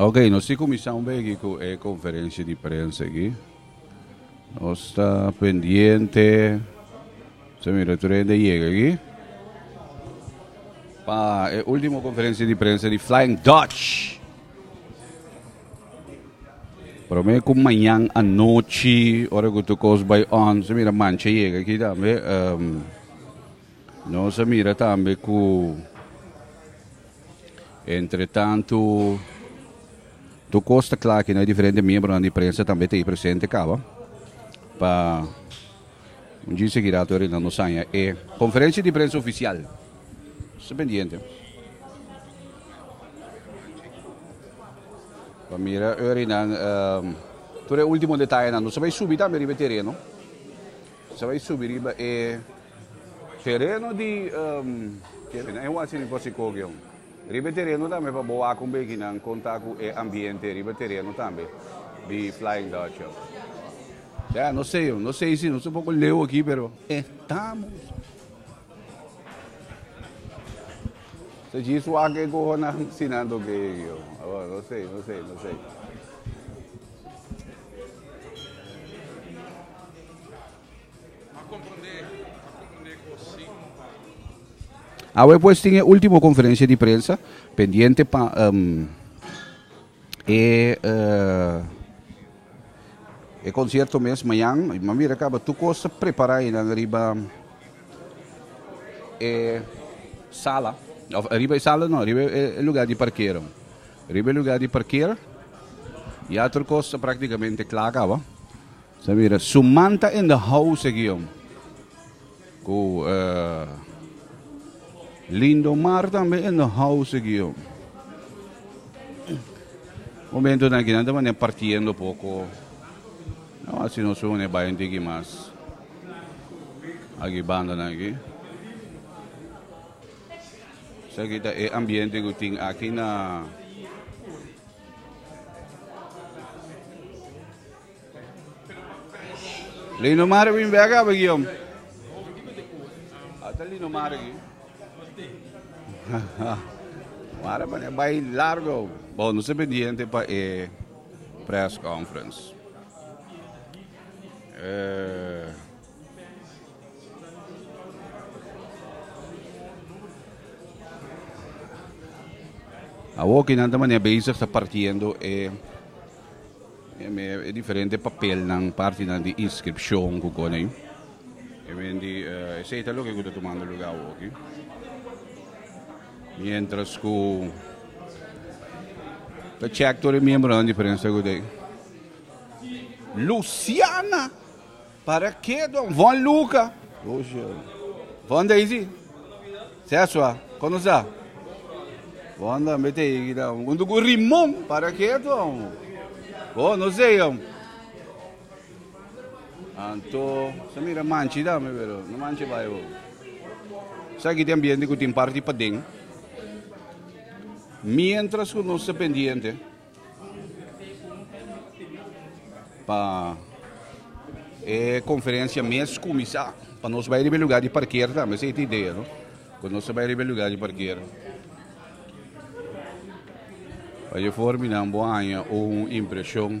Ok, nos si kuminsá un begi ku e konferensia di prensa aki. Nos ta pendiente. Sa mira tur hende yega aquí. Pa e último conferencia di prensa di Flying Dutch. Prome cu mañan anochi, ora cu tu cos by on, sa mira mancha yega aquí tambe. Um, no sa mira tambe cu Entretantu, tur kos ta kla kina e diferente miembronan di prensa tambe ta ei presente kaba pa un djis seki rato e Reinaldo Saña e konferensia di prensa ofisial. Sta pendiente. Pa mira Örinan, tur e ultimo detayenan. Nos ta bay subi tambe riba e tereno. Sa bai subi riba e tereno di Kevin na e Watch di Kosikogeon. Riba e tereno tambe pa bo wak un bekinan konta ku e ambiente riba e tereno tambe di Flying Dutchio. Ya, no sei oh, no sei si nos un poko leu aki pero estamos. Sa jis wak e kohonan sinan tok e yo. Abo, no sei, no sei, no sei. Awe pues tin e ultimo conferencia di prensa pendiente pa um, e uh, e concierto mes mañan. Ma mira caba tu cosa prepara y nan arriba e sala. Of arriba e sala no, arriba e lugar di parkeren. Arriba e lugar di parkeren. Y otro cosa prácticamente klaar caba. Ta mira, su man ta in the house aki jom. Cu eh, Lindomar también in the house aquí yo. Momento na aquí nada manera partiendo poco. No, así no se une bayan tiki más. Aquí banda na aquí. Sa aquí ta e ambiente que tin aquí na Linomar bin bek a Begiom. Ata Linomar aki. Mara mane bai largo. Bon, no se pendiente pa e press conference. Eh, Awoki nan ta mane bezig ta partiendo e E diferente papelnan, partinan di inskripshon ku kone. Esei ta loke ku ta tumando lugá awoki. Miéntras ku ta chèk tur e miembronan diferente segunda ei. Luciana! Para ke don Von Luca? Von Daisy? Seswa, kon nos ta? Von tambe ta higi ta huntu ku Rimon. Para ke ton? Bon, nos ta higi. Anto, ta mira manchi tambe, pero no manchi bai bo. Sa aki te ambiente ku tin parti paden. Mientras ku nos ta pendiente. Pa e conferencia mes cuminsa. Pa nos bai riba e lugar di parkera tambe. Esa ta e idea, no? Cu nos ta bai riba e lugar di parkera. Pa e for minan bo haña un impresion.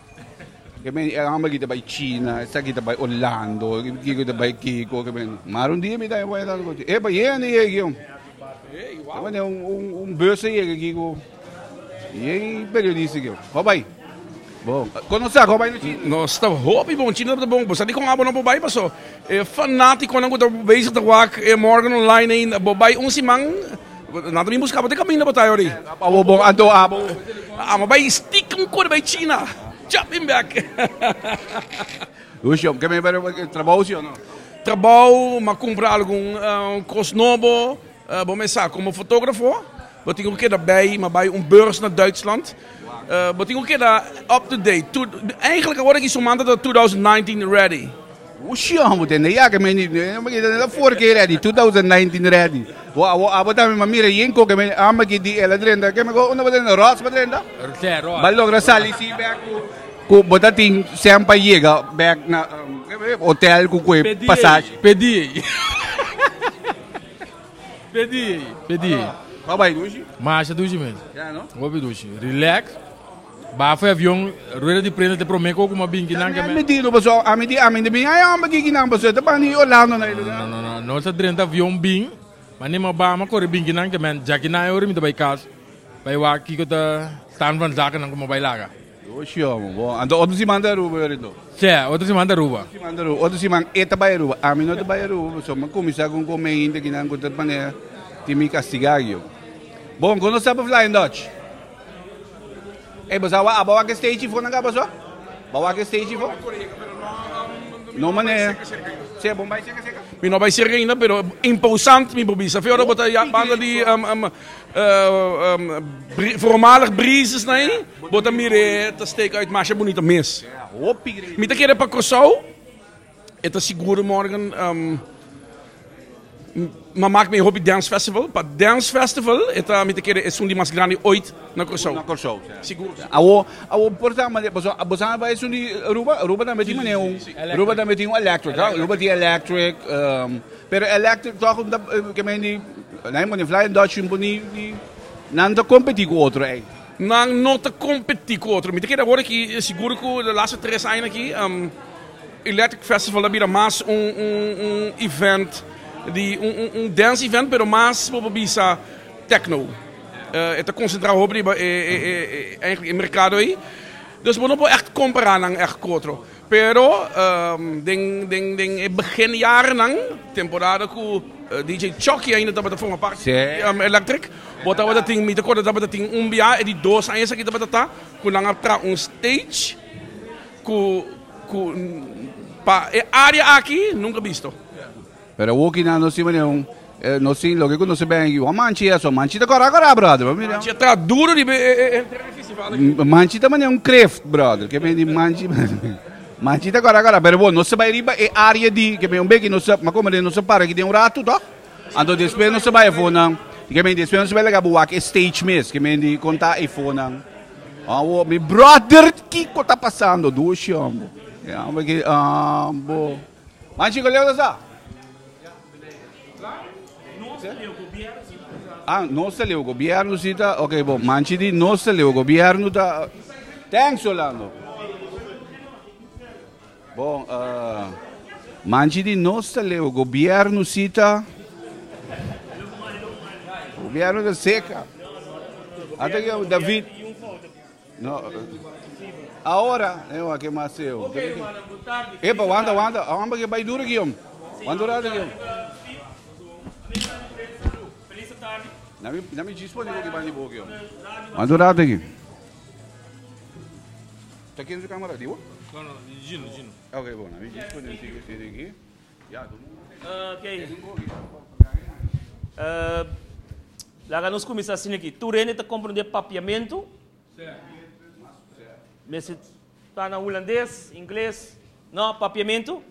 Kiko e homber kita bai China, esaki kita bai Orlando, kiko kita bai kiko, mar un dia mi ta bai tanto coche. Epa, yega ni yega kiko. Epa, ni un, un, un bus yega kiko. Yega periodista kiko. Ho bai. Bo, kono sa ko bai no China? No, sta hopi bon China ta bon. Bosa di kon abo no bo bai paso. E fanatico nan ku ta bezig ta wak e Morgan online, bo bai un siman Nan ta bin buska bo te kaminda bo ta ayo ri. Abo bon anto abo. Amo bay stik un kor bay china. Cha bin bek. Ush jom ke me bere trabou si o no. Trabou ma kumpra algun kos nobo bo me sa komo fotografo bo tin ku keda bay ma bay un beurs na Duitsland bo tin ku keda up to date. Eigenlijk awor aki su manta ta two thousand nineteen ready. Ushon bo tende ya ke meni amaki ta neta for ke ready 2019 ready bo abo abo ta mi mira yen koke me amaki di ela drenta ke me ko unda bo drenta rots bo drenta ba logra sali si back ku ku bo ta tin sèn pa yega back na hotel ku ku e pasashi pedi ei pedi ei pedi ei babay dushi masha dushi mes ya no hopi dushi relax. Bafo e avion, rueda di prenda te prome ko kuma bin kinan ke me. Dilu paso ami di ami te bin ai homber ki kinan paso e ta bani di Orlando na e lugar. No no no no sa drenta avion bin ma ni ma bama kore bin kinan ke men ja kinan e ora mi ta bai kas bai wak kiko ta staan van zakenan kuma bai laga. Yoshi homber bo anto otro siman ta Aruba yori anto. Sè otro siman ta Aruba. Otro siman ta Aruba otro siman e ta bai Aruba ami no ta bai Aruba paso mi a kumisa ku un kome hinte kinan ku ta pone tin mi kastiga aki bo. Bon kon lo sta pa flying dutch. Ey bo sa awa abo wak e stage fo nan ka abo so bo wak e stage fo no manera se bon bay cerca cerca. Mi no bay cerca ainda pero imposant mi por bisa fe ora bo ta ya banda di voormalig breezes na ahi bo ta mira e ta steken uit masha bunito mes mi ta kere pa Kòrsou. E ta siguro morgen na mak mi e hopi dance festival. Pa dance festival e ta mi ta kere esun di mas grandi oit na Curaçao. Na Curaçao. Siguro, siguro. Awo, awo por ta manera, paso boso a bai esun di Aruba, Aruba tambe tin manera un, Aruba tambe tin un electric, ha? Aruba tin electric, pero electric tòg ta, ke men di, nan e pone fly and dutch tin pone di, nan ta kompeti ku otro ei. Nan no ta kompeti ku otro. Mi ta kere awor aki, siguro ku de laster tres aña aki. Electric Festival a bira mas un un event di un un un dance event pero mas bo por bisa techno. E ta concentra hopi riba e e e eigenlijk e mercado ey. Dus bo no por echt compara nan echt cu otro. Pero den den den e begin jarennan temporada cu DJ Chucky ainda tabata forma parti di Electric bo tabata tin mi ta cuarda tabata tin un biaha e di dos añas aki tabata ta cu nan a traha un stage. Cu cu pa e area aki nunca bisto. Pero e wokinan no sima ni un eh, no sin loke cu no se bengi. Wan manchi eso, manchi ta cora cora brother, pa mira. Manchi a tra duro riba e e e terreno festival aki. M manchi ta mane un kreeft brother, ke meen di manchi manchi ta cora cora pero bo no se bay riba e area di ke meen un beki no se ma como den no se para aki den un rato toch. Anto despues nos ta bai afo nan, y ke menti despues nos ta bai laga bo wak e stage mes, ke menti konta e fo nan, Awo mi brother kiko ta pasando duo shombo, ambo, man chiko leo ta sa? Ah nos ta leo gobierno si ta, ok bo man chi di nos ta leo gobierno ta, thanks Orlando. Bon, manchi di nos ta leu gobierno sita, gobierno ta seca. Ata ki amo David. No. Ahora, eh, wa ke mas seo. Epa, wanda, wanda. Amba ke bai duro ki om. Wanda duro ki om. Nami, nami jispo ni ko ki bandi bo ki om. Wanda duro ki. Ta ken su camera? Di bo? No, no, di Gino, di Gino. Ok, bon, ami Gino pone un tigre siri aki. Ya, tu mo. Ok. Uh, laga nos comienza así aquí. Tu rende te comprende papiamento. Sí. Mesi está na holandés, inglés. No, papiamento.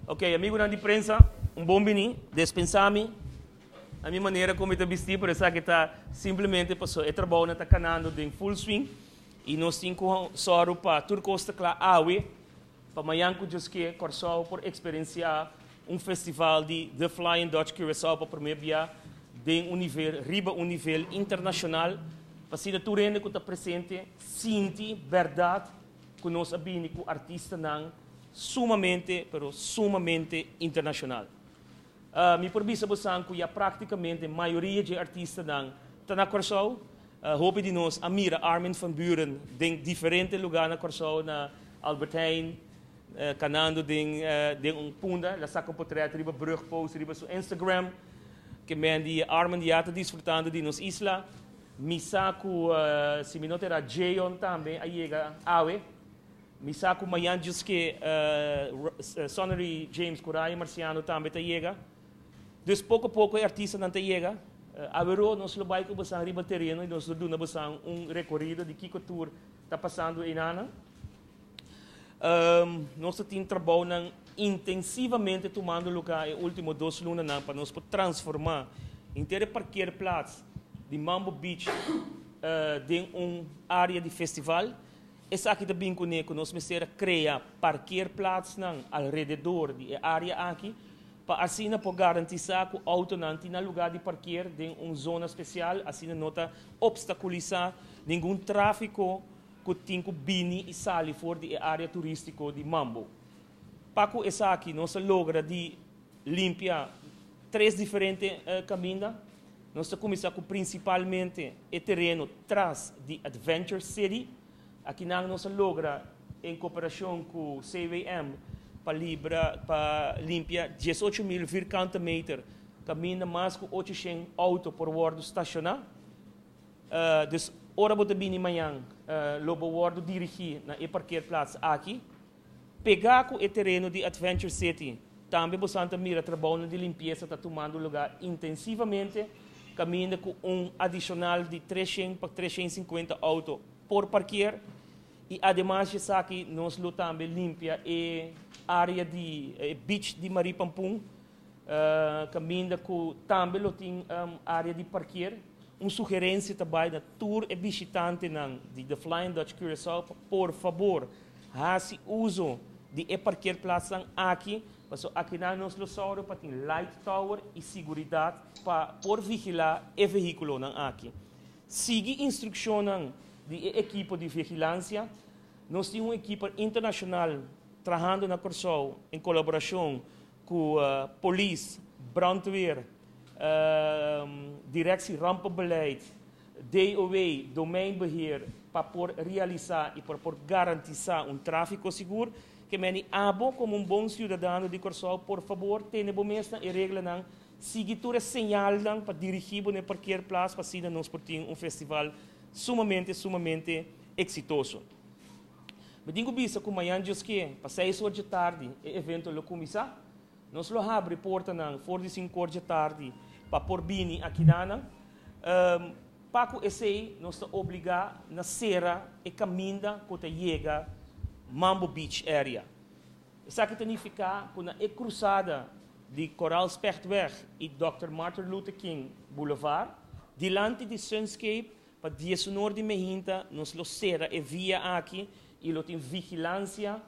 Ok, amigo nan di prensa, un bom bini, despensami. A mi manera como te vestí, pero esa que está simplemente pasó. E trabajo na está canando den full swing. I nos tin ku sòru pa tur kos ta kla awe. Pa mañan ku djosk'é, Kòrsou por eksperensiá un festival di The Flying Dutch Curaçao pa promé bia den un nivel riba un nivel internashonal pa asina tur hende ku ta presente sinti bèrdat ku nos a bini ku artistanan sumamente pero sumamente internashonal. Mi por bisa bosan ku ya praktikamente mayoria dje artistanan ta na Kòrsou. Hopi di nos a mira Armin van Buuren den diferente lugá na Kòrsou, na Albert Heijn, kanando den den un punda. El a saka un potrèt riba brug, post riba su Instagram. Ke men di Armin ya ta disfrutando di nos isla. Mi sa ku si mi no ta erá Jayon tambe a yega awe. Mi sa ku mañan djis ke Sonnery James ku Ryan Marciano tambe ta yega. Dus poko poko e artistanan ta yega. Averoo nos lo bai ku bosan riba tereno i nos lo duna bosan un rekorido di kiko tur ta pasando einanan. Nos a tin trabounan intensivamente tumando luka e último dos lunanan pa nos por transformá henter e parkeerplats di Mambo Beach den un área di festival. Esaki ta bin kuné ku nos mester a krea parkeerplaatsnan alrededor di e área aki pa asina por garantisá ku outonan tin nan lugá di parkeer den un zona spesial, asina no ta opstakulisá ningun tráfiko ku tin ku bini i sali for di e área turístiko di Mambo. Pa cu esaki nos a logra di limpia tres diferente caminda, nos ta cuminsa cu principalmente e tereno tras di Adventure City. Aki nan nos a logra en cooperacion cu CWM pa libra pa limpia diesocho mil vierkante meter caminda, mas cu ochocientos auto por wordo stationa. Dus ora bo ta bini mañan lo bo wordo dirigi na e parkeerplaats aki. Pegá ku e tereno di Adventure City, tambe bosan ta mira trabounan di limpiesa ta tumando lugá intensivamente, kaminda ku un adishonal di tres shen pa tres shen sinkuenta outo por parkier, i ademas di esaki nos lo tambe limpia e área di beach di Marie Pampun, kaminda ku tambe lo tin área di parkier. Un sugerensia ta bai na tur e bishitantenan di The Flying Dutch Curaçao pa por fabor, Hasi uso di e parkeerplatsnan aki pasobra akinan nos lo sòru pa tin light tower i siguridat pa por vigilá e vehíkulonan aki. Sigui instrukshonnan di e ekipo di vigilansia. Nos tin un ekipo internashonal trahando na Kòrsou en kolaborashon Ku polis, brandweer, direksie rampenbeleid, DOW, domeinbeheer, pa por realisá i pa por garantisá un tráfiko sigur, ke meni abo komo un bon siudadano di Kòrsou por fabor tene bo mes na e reglanan, sigui tur e señalnan pa dirigí bo na e parkeerplas pa asina nos por tin un festival sumamente sumamente eksitoso. Mi tin ku bisa ku mañan diosk'é, pa seis or dje tardi, e evento lo kuminsá. Nos lo habri portanan for di sinku or dje tardi pa por bini aki nan. Pa ku esei nos ta obligá na sera e kaminda ku ta yega Mambo Beach area. Esaki ta nifiká ku na e krusada di Koraalspechtweg i Dòkter Martin Luther King Boulevard, dilanti di Sunscape, Pa dieshonor di mi hinta nos lo sera e via aki y lo tin vigilancia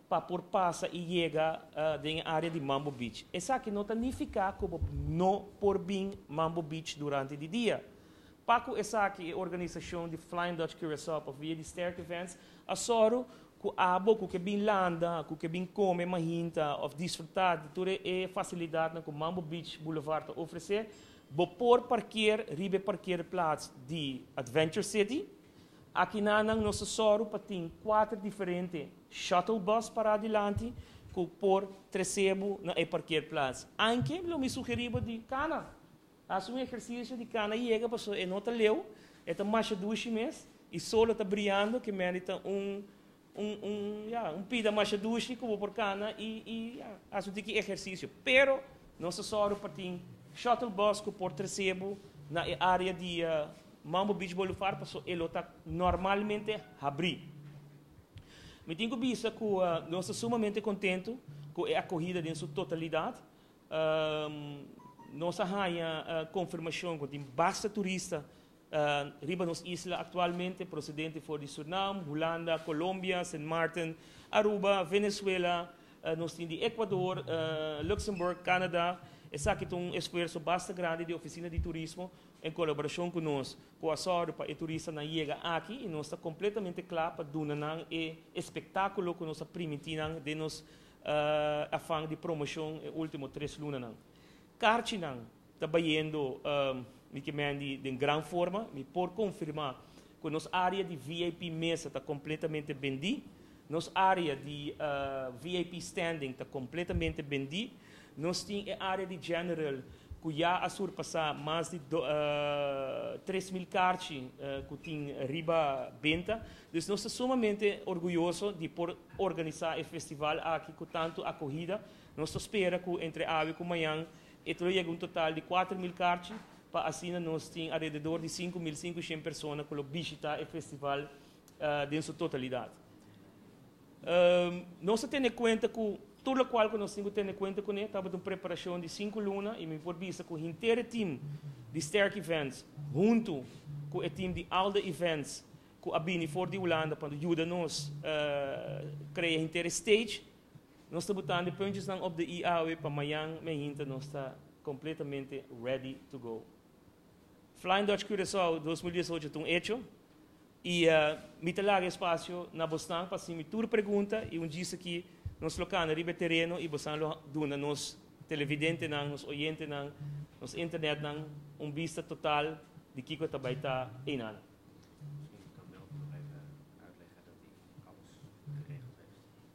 pa por pasa y yega den e area di Mambo Beach. Esaki no ta nifica cu bo no por bin Mambo Beach durante di dia. Pa cu esaki e organisacion di Flying Dutch Curaçao pa via di Sterk Events a soro cu abo cu ke bin landa, cu ke bin come mahinta of disfruta di tur e facilidadnan cu Mambo Beach Boulevard ta ofrece, Bo por parkier riba e parkeerplaats di Adventure City. Akinan nan nos a sòru pa tin kuater diferente shuttle bus pará dilanti ku por tres'é bo na e parkeerplaats. Anke lo mi sugerí bo di kana hasi un ehersisio di kana yega pasobra e no ta leu, e ta masha dushi mes i sol a ta briando, ke mende ta un Un pida masha dushi ku bo por kana i hasi un tiki ehersisio. Pero nos ta sòru pa tin shuttle bus ku por trese bo na e área di Mambo Beach Boulevard pasobra e lo ta normalmente habrí. Mi tin ku bisa ku nos ta sumamente kontentu ku e akohida den su totalidat. Nos a haña konfirmashon ku tin basta turista Riba nos isla aktualmente prosedente for di Surnam, Hulanda, Kolombia, Sint Maarten, Aruba, Venezuela, nos tin di Ekuador, Luksemburg, Kanada. Esaki ta un esfuerso basta grandi di Ofisina di Turismo en kolaborashon ku nos ku a sòru pa e turistanan yega aki i nos ta kompletamente kla pa duna nan e espektákulo ku nos a primintí nan den nos afan di promoshon e último tres lunanan. Karchinan. Ta bayendo Mickey Mandy den gran forma. Mi por confirma cu nos area di VIP mesa ta completamente bendi. Nos area di VIP standing ta completamente bendi. Nos tin e area di general cu ya a surpasa mas di tres mil carchi cu tin riba benta. Dus nos ta sumamente orguyoso di por organisa e festival aki cu tanto acogida. Nos ta spera cu entre awe cu mañan E tur a yega un total di kuater mil karchi, pa asina nos tin alrededor di sinku mil sinku shen persona ku lo bishitá e festival den su totalidat. Nos ta tene kuenta ku tur lokual ku nos tin ku tene kuenta kuné tabata un preparashon di sinku luna i mi por bisa ku henter e tim di Sterk Events huntu ku e tim di Alde Events ku a bini for di Hulanda pa yuda nos krea henter e stage, Nos ta botando e punchesnan op de i awe pa mayan miahinta nos ta completamente ready to go. Flying Dutch Curaçao dos mil diesocho ta un hecho y mi ta laga e espacio na bosnan pa hacimi tur pregunta y un djis aki nos lo cana riba e tereno y bosan lo duna nos televidentenan, nos oyentenan, nos internetnan un bista total di kico ta bay ta eyna'an.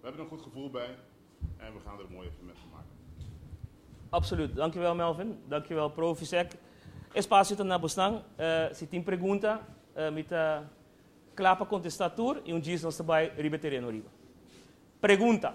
We hebben een goed gevoel bij en we gaan er een mooi evenement van maken. Absoluut. Dankjewel Melvin. Dankjewel Provisec. Espacio ta na bosnan. Si tin pregunta, mi ta kla pa kontesta tur i un djis nos ta bai riba e tereno riba. Pregunta.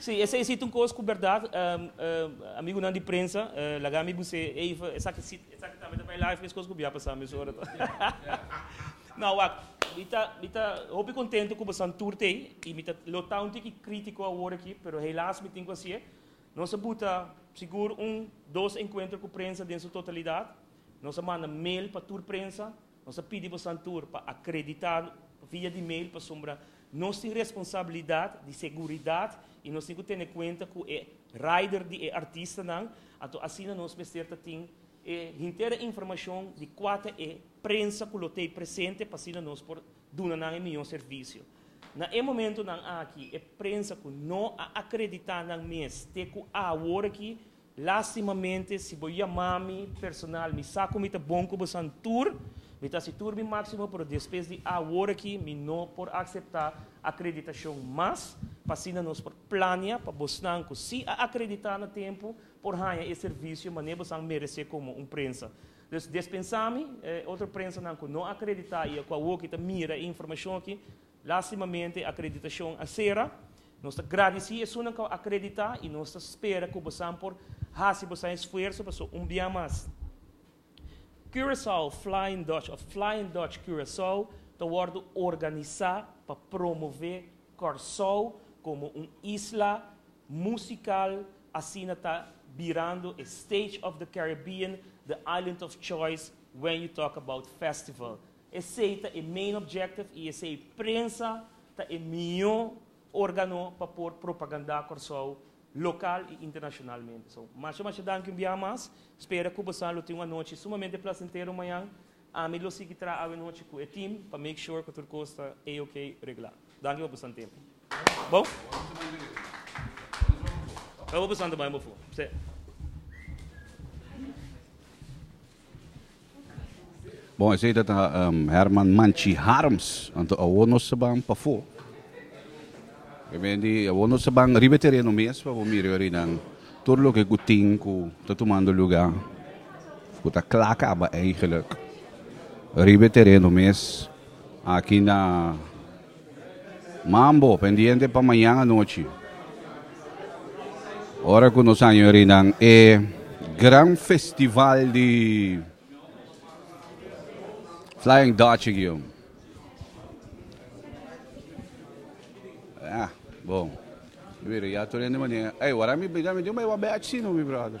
Sí, esei sí ta un kos ku bèrdat. Amigunan di prensa, laga mi bu sê even esaki sí, esaki tambe ta bai live, meskos ku bia pasá mesora ta. Nau wak, mi ta, mi ta hopi kontentu ku bo san tur tei i mi ta lo ta un tiki krítiko awor aki, pero helas mi tin ku hasié. Nos a buta sigur un dos enkuentro ku prensa den su totalidat. Nos a manda mail pa tur prensa. Nos a pidi bo Santur pa akreditá pa via di mail pasobra nos tin responsabilidat di seguridat i nos tin ku tene kuenta ku e rider di e artistanan. Anto asina nos mester ta tin e hintera informashon di kua ta e prensa ku lo t'ei presente pa asina nos por duna nan e mihó servisio. Na e momentunan aki e prensa ku no a akreditá nan mes te ku awor aki Lastimamente, si bo yama mi personal, mi sa ku mi ta bon ku bosan tur. Mi ta hasi tur mi máksimo, pero despues di awor aki mi no por akseptá akreditashon mas, pa asina nos por plania pa bosnan ku si a akreditá na tempu por haña e servisio mané bosan meresé komo un prensa. Dus, despensá mi, e otro prensanan ku no akreditá i ku awor aki ta mira e informashon aki, Lastimamente acreditacion a cera. Nos ta gradici esunnan cu a acredita y nos ta spera cu bosan por haci bosan esfuerso pasobra un bia mas Curaçao Flying Dutch of Flying Dutch Curaçao ta wordo organisa pa promove Corsow como un isla musical asina ta birando e stage of the Caribbean the island of choice when you talk about festival. Esei ta e main objective y esei prensa ta e mijo organo pa por propaganda Corsou local y internacionalmente. So, masha masha danki un biaha mas, spera cu bosa lo tin un anochi sumamente placentero mañan, ami lo sigui traha awe nochi cu e team pa make sure cu tur cos ta A-OK regla. Danki pa boso tempo. Bon, esei ta ta Herman Manchi Harms. Anto awor nos ta ban pafó. Binendi, awor nos ta ban riba e tereno mes pa bo mira e orinan. Tur loke ku tin ku ta tumando lugá, ku ta kla kaba, eigenlik, riba e tereno mes, aki na. Mambo, pendiente pa mañan anochi, ora cu nos añorinan e gran festival di Flying Dutch gio. Ah, bon. Mira, ya tu rende manera. Hey, wara mi bida mi diu, me wa bech sino, mi brother.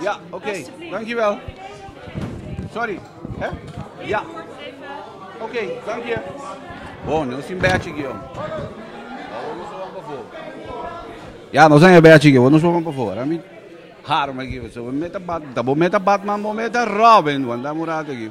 Ja, ok. Dankjewel. Sorry. Hè? Ja. Ok, dank je. Bon, nou sin bechi gio. Ja, nou zijn bechi gio. Nou zoeken voor. Ami harm gio. So meta bat, dabo meta Batman, bo meta Robin, want dan murato gio.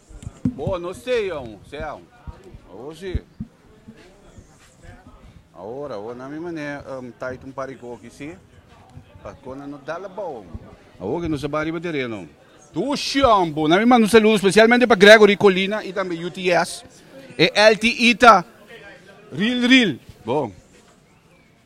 Bo no stay aun, stay aun. Awo si. Awor, awor na mi manera um, tait un pari koki si. Pa kona no dala bou. Awor ke no sa ba riba tereno. Tu Sean bo, na mi manda un saludo specialmente pa Gregory Colina y tambe UTS. E LTI ta real real. Bo.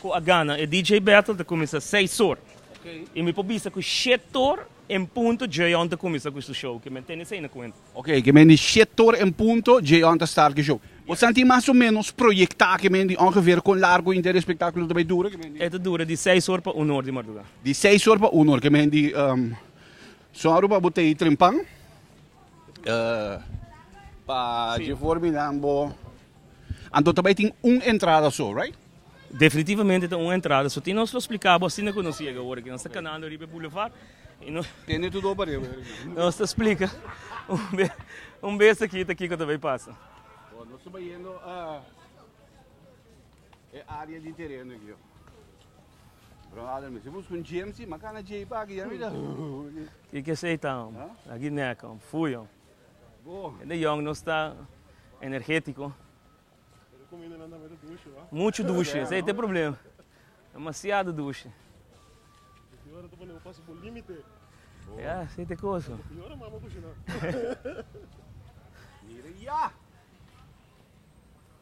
Cu a gana e DJ Battle ta cuminsa seis or. Y mi por bisa cu shiet or en punto J-On ta cuminsa cu su show. Ki men tene esey na cuenta. Ok, ki men di shiet or en punto J-On ta start cu show. Bo santi mas o menos proyecta ki men di ongeveer con largo inter e espectaculo ta bay dura? Ki men di. E ta dura di seis or pa un or di marduga. Di seis or pa un or. Ki men di Sonru pa bo ta y trimpan. Pa dje for miran bo. Anto ta bai tin un entrada so, right? Definitivamente ta un entrada so. Tin nos lo splica bo asina cu nos yega awor aki. Nos ta canando riba e boulevard y nos. Tene tu doba riba e riba. Nos ta splica un bes aki ta kico ta bai pasa. Bo, nos ta bai yendo a e area di tereno aki yo. Bro Adel mi si busca un GMC, ma cana Jeep aki ya mira. Kico es ey ta, aki nek, fuyo. E de yòn nos ta energétiko. Muchu dushi, esei ta e problema. Demasiado dushi. Ya, esei ta e kosa.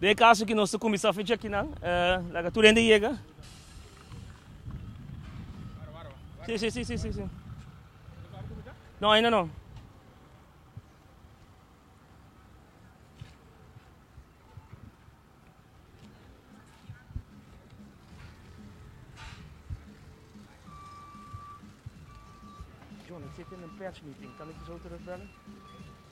Den e kaso aki nos ta kuminsá fecha akinan. Laga tur hende yega. Si, si, si, si, si, si. No, ainda no. John, ik zit in een persmeeting. Kan ik je zo terugbellen?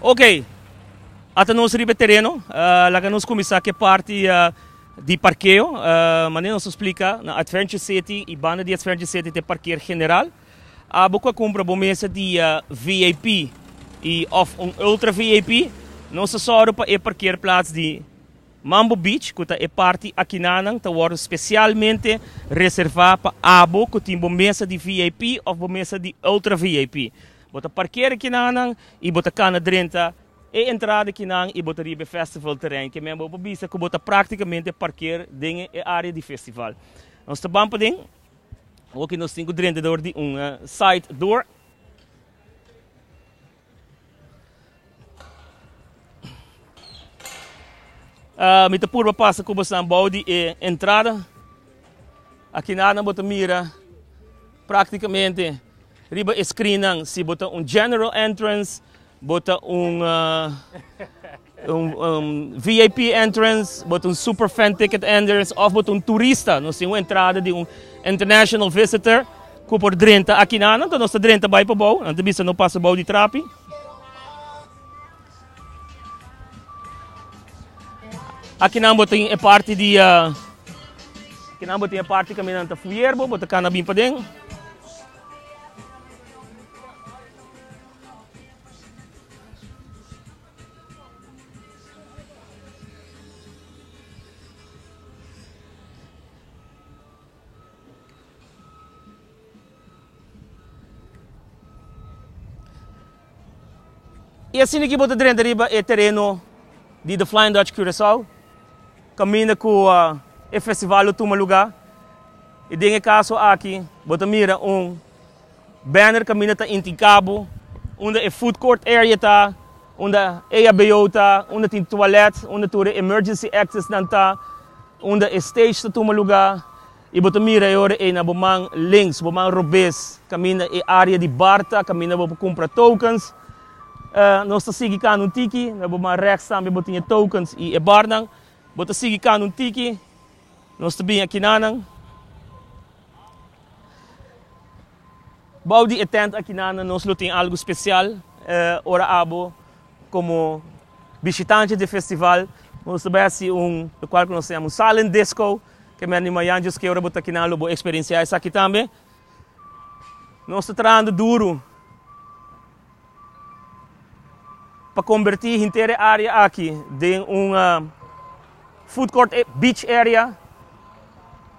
Ok ata nos riba e tereno laga nos kuminsá ku e parti di parkeo manera nos a splika na Adventure City i banda di Adventure City ta e parker general Abo cu a cumpra bo mesa dia VIP y of un Ultra VIP, nos ta zorgo pa e parkeerplaats di Mambo Beach, cu ta e parti akinanan, ta wordo specialmente reserva pa abo cu tin bo mesa di VIP of bo mesa di Ultra VIP. Bo ta parkeer akinanan y bo ta cana drenta e entrada akinan y bo ta riba e festival terrein. Ke men bo por bisa cu bo ta practicamente parkeer den e area di festival. Nos ta ban paden. Awor nos tin ku drenta dor di un side door. Mi ta purba pasa ku boso bou di e entrada. Aki nadan bo ta mira praktikamente riba e screennan si bo ta un general entrance, bo ta un. Un VIP entrance, bo ta un super fan ticket entrance of bo ta un turista, nos tin un entrada di un international visitor cu por drenta aki nan, anto nos ta drenta bay pa bou, nan ta bisa no pasa bou di trapi. Aki nan bo tin e parti di aki nan bo tin e parti caminda nan ta fuyer bo, bo ta cana bin paden. I asina ki bo ta drenta riba e tereno di The Flying Dutch Curaçao, kaminda ku e festival lo tuma lugá. I den e kaso aki bo ta mira un. Banner kaminda ta Inti Cabo, unda e food court area ta, unda EHBO ta, unda tin toilet, unda tur e emergency exits nan ta, unda e stage ta tuma luga. Y bo ta mira e ora ey na bo man links, bo man robes, kaminda e area di bar ta, kaminda bo pa cumpra tokens. Nos ta sigui cana un tiki, na bo man rechts tambe bo tin e tokens y e bar nan. Bo ta sigui cana un tiki. Nos ta bini aki na nan. Bou di e tènt aki na nan nos lo tin algu spesial. Ora abo komo bishitante di e festival nos ta bai hasi un lokual ku nos ta yama un silent disco. Ke mester di mañan djoskee ora bo ta aki nan lo bo eksperensiá esaki tambe. Nos ta trahando duru. pa kombertí henter e área aki den un food court beach area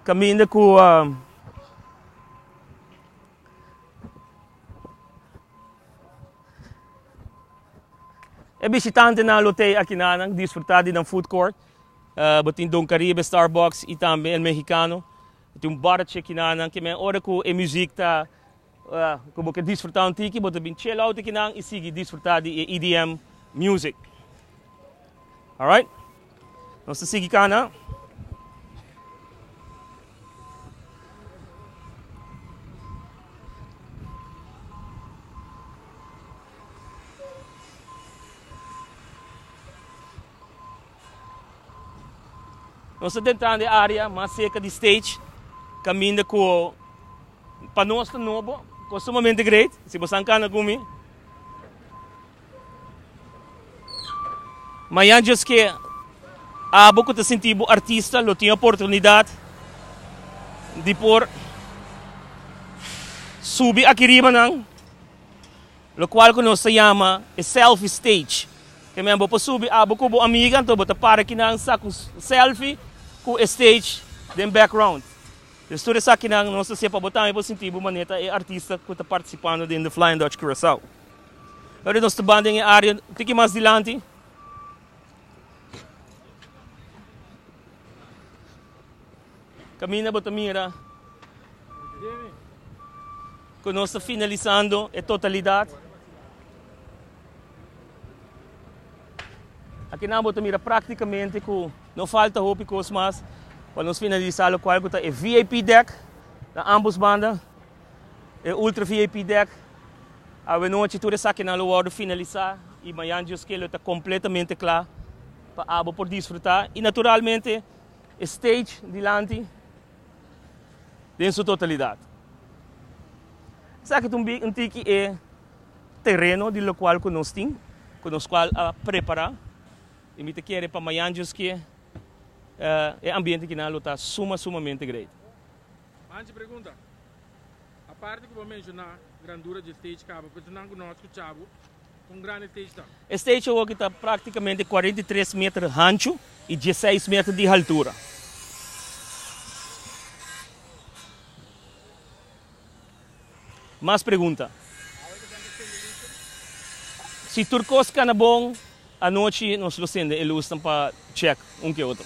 kaminda ku e bishitantenan lo tei akinan nan disfrutá di nan food court. Bo tin Don Caribe, Starbucks i tambe El Mexicano. Tin un bòrchi akinan nan ke men ora ku e muzik ta. Ora cu bo ke disfrutá un tiki, bo ta bin chela un tiki nan y sigui disfrutá di e EDM music. Alright. Nos ta sigui cana. Nos ta dentrando e area mas cerca di stage caminda cu pa nos ta nobo cu a sumamente great. Si bo san cana cu mi. Mayan just que abo cu ta sinti bo artista lo tin oportunidad di por subi aki ribanan. Locual cu nos ta yama e selfie stage. Temen bo por subi abo cu bo amiga, anto bo ta para kinan sa cu selfie cu e stage den background. Des tur esakinan nos ta hasié pa bo tambe por sinti bo manera ta e artista cu ta participando den The Flying Dutch Curacao. Ora nos ta ban den e area un tiki mas dilanti, Kaminda bo ta mira ku nos ta finalisando e totalidat. Akinan bo ta mira praktikamente ku no falta hopi kos mas pa nos finalisa lokual ku ta e VIP dek na ambos banda, e ultra VIP dek. Awenochi tur esakinan lo wòrdu finalisa i mañan Dios kil lo ta kompletamente kla pa abo por disfruta. I naturalmente E stage dilanti den su totalidat. Esaki ta un tiki e tereno di lokual ku nos tin, ku nos kual a prepará, i mi ta kere pa mañan djoskié e ambiente kinan lo ta suma sumamente great. Manchi pregunta. Aparte cu bo menciona grandura dje stage caba pensa nan cu no a scucha bo con grandi stage ta. E stage awoki ta practicamente cuarenta i tres meter hanchu y dieseis meter di haltura. Mas pregunta? Si tur cos cana bon, anochi nos lo cende e lusnan pa check un ke otro.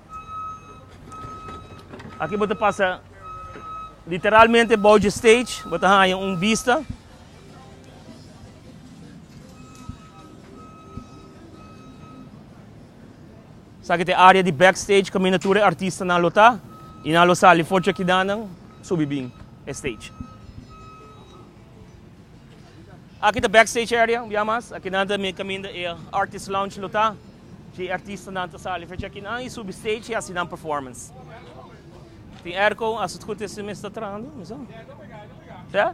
Aki bo ta pasa literalmente bou dje stage, bo ta haña un bista. Esaki ta e área di backstage kaminda tur e artistanan lo ta i nan lo sali for dje kidanan subi bin e stage. Aki ta backstage area, bia mas. Aki nan ta kaminda e artist lounge lo ta. Dje artistanan ta sali fecha aki nan y subi stage y hasi nan performance. Tin erko, a su tgute si mes ta trahando, mes no? Sa?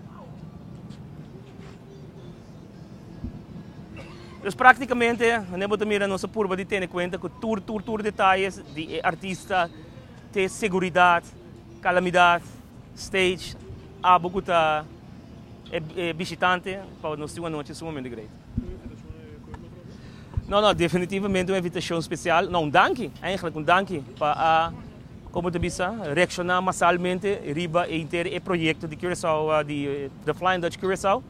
Pues practicamente, mane bo ta mira nos a purba di tene cuenta cu tur tur tur detalles di e artista te seguridad, calamidad, stage, abo cu ta e e bishitante pa nos tin un anochi sumamente great. No no definitivamente un evitashon spesial, no un danki eindelijk un danki pa a komo ta bisa reakshoná masalmente riba e inter e proyekto di Curaçao di The Flying Dutch Curaçao.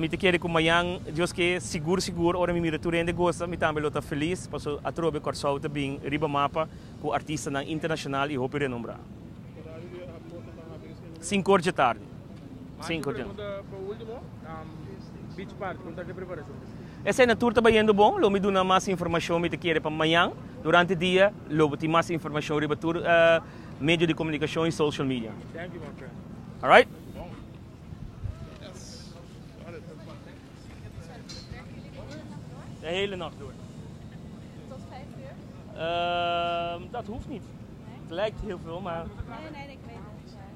Mi ta kere ku mañan Dios ke sigur sigur ora mi mira tur hende gosa mi tambe lo ta felis paso atrobe Kòrsou ta bin riba mapa ku artistanan internashonal i hopi renombrá. Sinku or dje tardi. Sinku dje. Esei na tur ta bayendo bon, lo mi duna mas informashon mi ta kere pa mañan. Durante dia lo bo tin mas informashon riba tur medio di komunikashon i social media. Alright. De hele nacht door. Dat hoeft niet. Het lijkt heel veel, maar.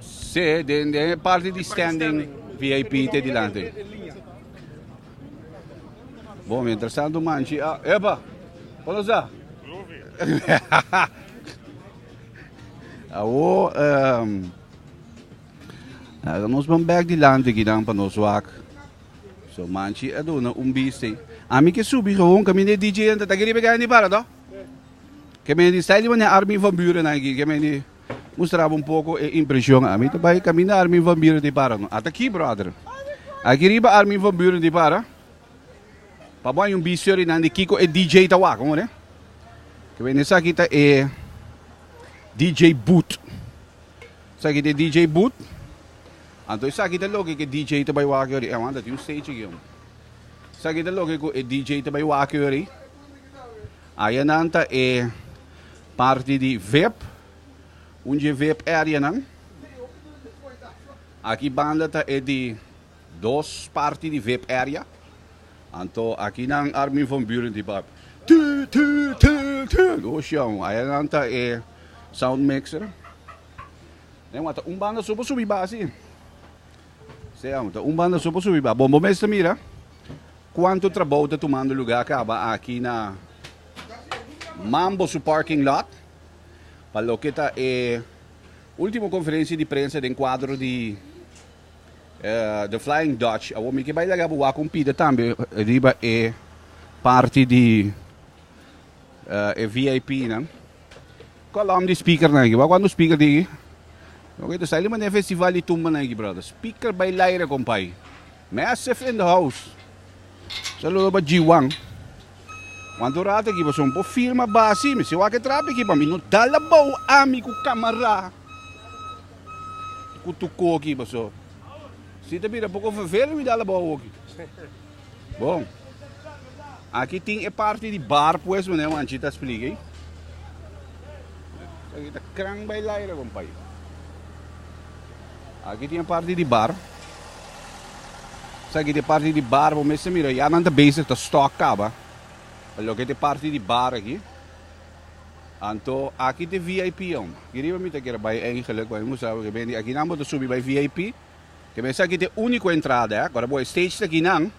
Sí, den den e parti di standing VIP te dilanti. Bom, mientras tanto manchi, ah, epa, ¿cuándo está? Awo, um, nos van back dilanti aquí dan pa nos wak. So manchi a dona un biste. A mi que subi gewoon kami de DJ en tata geribe gani para, no? Que me di style mane Armin van Buren aquí, que me di... Mustraba un poko e impresion ami ta bai kaminda Armin van Buren di para no. Ata ki brother. Aki riba Armin van Buren di para. Pa bo hay un bicio ri nan di kiko e DJ ta wak hoor eh. Ke wende saki ta e DJ Boot. Saki ta e DJ Boot. Anto esaki ta loke ke DJ ta bai wak yori. E awan ta tin un stage aki hombre. Saki ta loke ku e DJ ta bai wak yori. Aya nan ta e Parti di vep, un dje vep areanan. Aki banda ta e di dos parti di vep area. Anto aki nan Armin van Buuren di bap. Tu tu tu tu. Go show. Aya nan ta e sound mixer. Nan wata un banda so pa subi basi. Sey amo ta un banda so por subi ba. Bon, bo mes ta mira cuanto trabou ta tumando lugar caba aki na Mambo su parking lot pa loke ta e ultimo conferencia di prensa den cuadro di The Flying Dutch. Awor mi ke bay laga bo wak un pida tambe riba e parti di e VIP nan. Kolom di speaker nan aki. Wak wak no speaker tin aki. Ok ta saili manera festival di tumba nan aki brother. Speaker bay laire compay. Massive in the house. Saludo pa G-Wan. Wan tu rato aki paso bo firma basi mi. Si wak e trapi aki pa mi no dal abao ami ku kamara. Ku tuko aki paso. Si ta bira poko vervele mi dal abao aki. Bon. Aki tin e parti di bar pues mené Juanchi ta splica ey. Aki ta kran bay laira compay. Aki tin e parti di bar. Sa aki te parti di bar bo mester mira ya nan ta bezig ta stock kaba. Lo ke te parti di bar aki. Anto aki te VIP om. Ki riba mi ta kere bay eigenlijk bay musa aki nan bo ta subi bay VIP. Te mester aki ta e unico entrada eh. Agora bo e stage ta aki nan.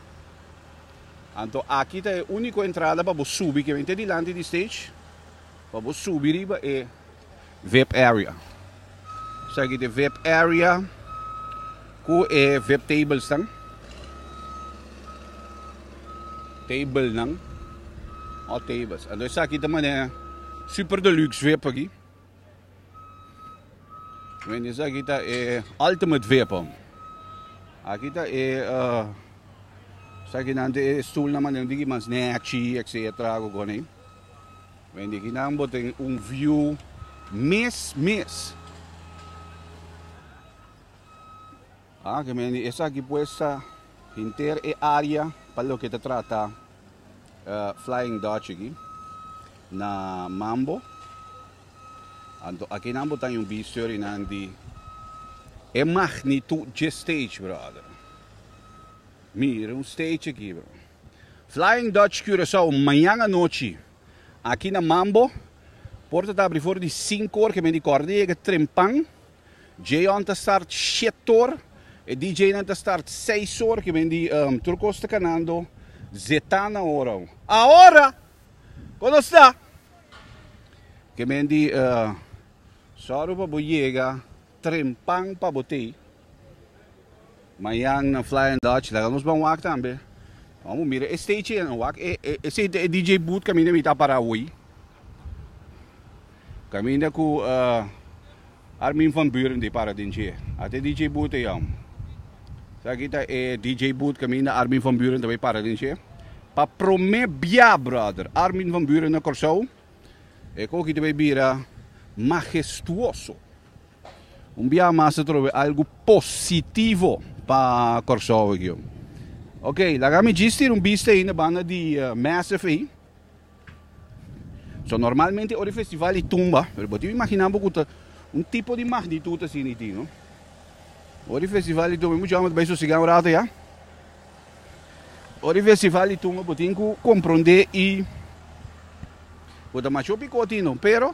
Anto aki ta e unico entrada pa bo subi ke mente dilanti di stage pa bo subi riba e vip area. Esaki ta e vip area cu e vip tables nan. Table nan. Anto esaki ta mane super deluxe vip aki. Wen esaki ta e ultimate vapor. Aki ta e uh, saki nan te e stoel na manera diki mas netchi, etc. Go goni. Wen diki nan boten un view mes mes. A ke mende esaki pues ta henter e área pa loke ta trata Flying Dutch aki na Mambo. Anto akinan bo ta yubi storinan di e magnitud dje stage brother. Mira un stage aki bro. Flying Dutch Curaçao mañan anochi aki na Mambo porta ta abri for di sinku or ke mende kòrda yega trempan. Jeon ta start shiet or, e DJnan ta start seis or, ke men di tur kos ta kanando zeta na ora. Ahora! Kon nos ta? Ke men di sòru pa bo yega trempan pa bo tei. Mañan na Flying Dutch laga nos ban wak tambe. Nos abo mira e stage en wak. Esei ta e DJ booth kaminda mi ta a para hoy. Kaminda ku Armin van Buuren di para den dje. Ata e DJ booth ei awor. Esaki ta e DJ booth kaminda Armin van Buuren ta bai para den dje. Pa promé bia brother Armin van Buuren na Kòrsou e koki ta bai bira magestuoso. Un bia mas ta trobe algo positivo pa Kòrsou regio. Ok, laga mi djis tira un bista ei na banda di uh, Massive ei. So normalmente ori festival i tumba, pero bo tin imagina bo kuta un tipo di magnitud asi ni tin, no? Ori festival i tumba, mucha bai sosiga un rato ya. Ori festival i tumba bo tin ku kompronde i bo ta masho piko tin, no? Pero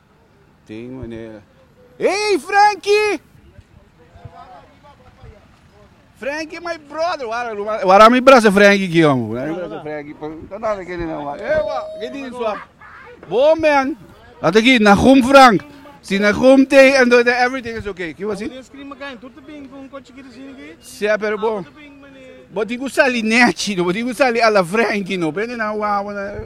Hey Franky! Franky my brother! Wara mi brasa Franky aki hombre. Wara mi brasa Franky. Bo man! Ata aki Nahum Frank. Si Nahum te ando den everything is okay. Kiba si? Sea pero bo bo tin ku sali Nechi no. Bo tin ku sali a la Franky no. Prende nan wawa nan.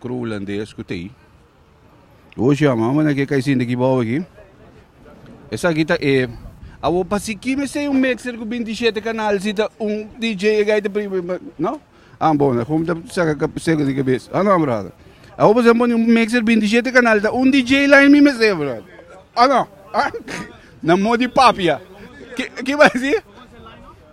Kru hulandes ku tei. Oshi a mama na ke kaisinta ki bou aki. Esaki ta e. Awo pa siki mester un mixer ku binti shete kanal si ta un DJ e gai ta pri no. An bon na kom ta saka ka seko di kabes. Ano brother. Awo pa sa poni un mixer binti shete kanal ta un DJ line mi mester brother. Ano. Na mo di papia. Ki ki basi?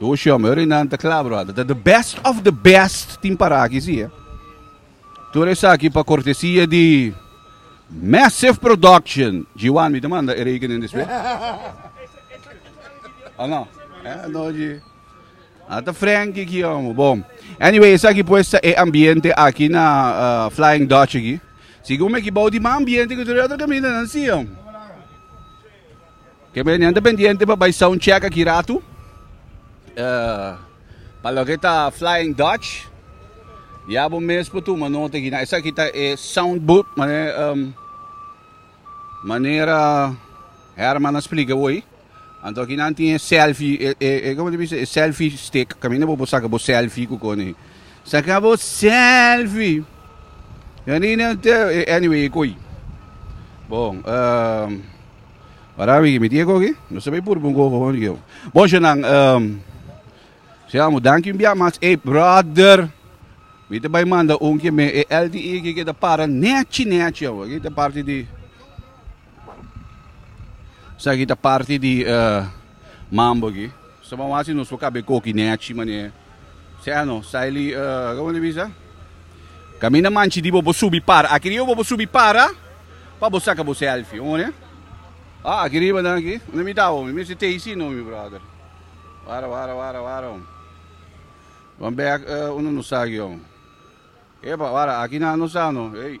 Dos jòmer i nan ta kla, bròda. Ta the best of the best tin para aki, si e. Tur esaki pa kortesia di Massive Production. G1, mi ta manda e rekening despues. O no? Eh, no, G. Ata Frankie ki omo. Bom. Anyway, esaki pues ta e ambiente aki na uh, Flying Dutch aki. Sigun me ki bou di ma ambiente ki tur otro caminda nan si, om. Ke beni nan ta pendiente pa bai sound check aki ratu pa loke ta Flying Dutch ya bo mes por tuma nota aki nan esaki ta e sound booth manera Herman a splica bo ayi anto aki nan tin e selfie e como ta bisa e selfie stick caminda bo por saca bo selfie cu cona ayi. Saca bo selfie. Janine anyway e coi. Bon, um, para mi mi tiego aquí. No se ve por un gogo con yo. Bon, yo nan um, se amo danki bia mas e brother. Mi te bai manda un que me e LTE que que te para nechi nechi. Aquí te parte di Esaki ta parti di e mambo aki. Su bo hasi nos por kab'e koki nèchi manera sea no saili e komo ta bisa kaminda manchi di bo por subi para. Aki riba bo por subi para pa bo saka bo sèlfi omo ne. A aki riba nan aki unda mi tab'o mi mester tei si no mi bròder. Wara wara wara wara ho wan bèk e unda no sa aki ho. Epa wara aki nan no sa no ey.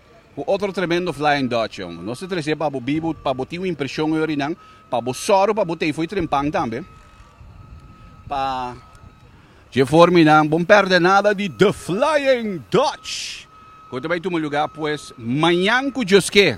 Ku otro tremendo Flying Dutch, jòn. Nos ta tres'é pa bo bibu, pa bo tin un impreshon ori nan, pa bo sòru pa bo t'ei fo'i trempan tambe, pa. Dje for mi nan, bon pèrdè nada di The Flying Dutch, ku ta bai tuma lugá pues mañan ku Dioske.